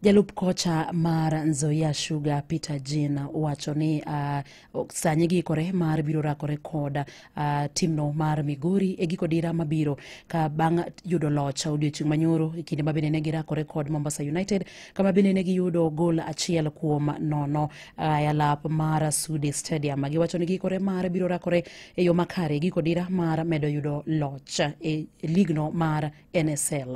Jalup kocha mar Nzoia Sugar Peter Jean wacho ni uh, sani giikore mar biro rakore kod uh, timno mar Migori e giko dira mabiro ka bang' yudo loch odiochieng' manyoro e kinde ma bende ne girakore kod Mombasa United kama bende ne giyudo gol achiel kuom nono uh, e alap mar Sudi Stadium. Giwacho ni giikore mar biro rakore e yo makare e giko dira mar medo yudo loch e ligno mar NSL.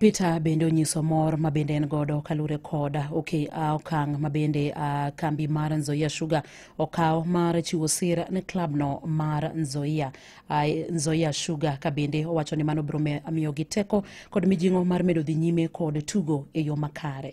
Peter bende onyiso mor ma bende en godo kalure kod okay, uh, okang' ma bende uh, kambi mar Nzoia Sugar okawo mar chiwo sir ne klabno mar Nzoia, uh, Nzoia Sugar ka bende owacho ni mano biro miyogi teko kod mijing'o mar medo dhi nyime kod tugo e yo makare.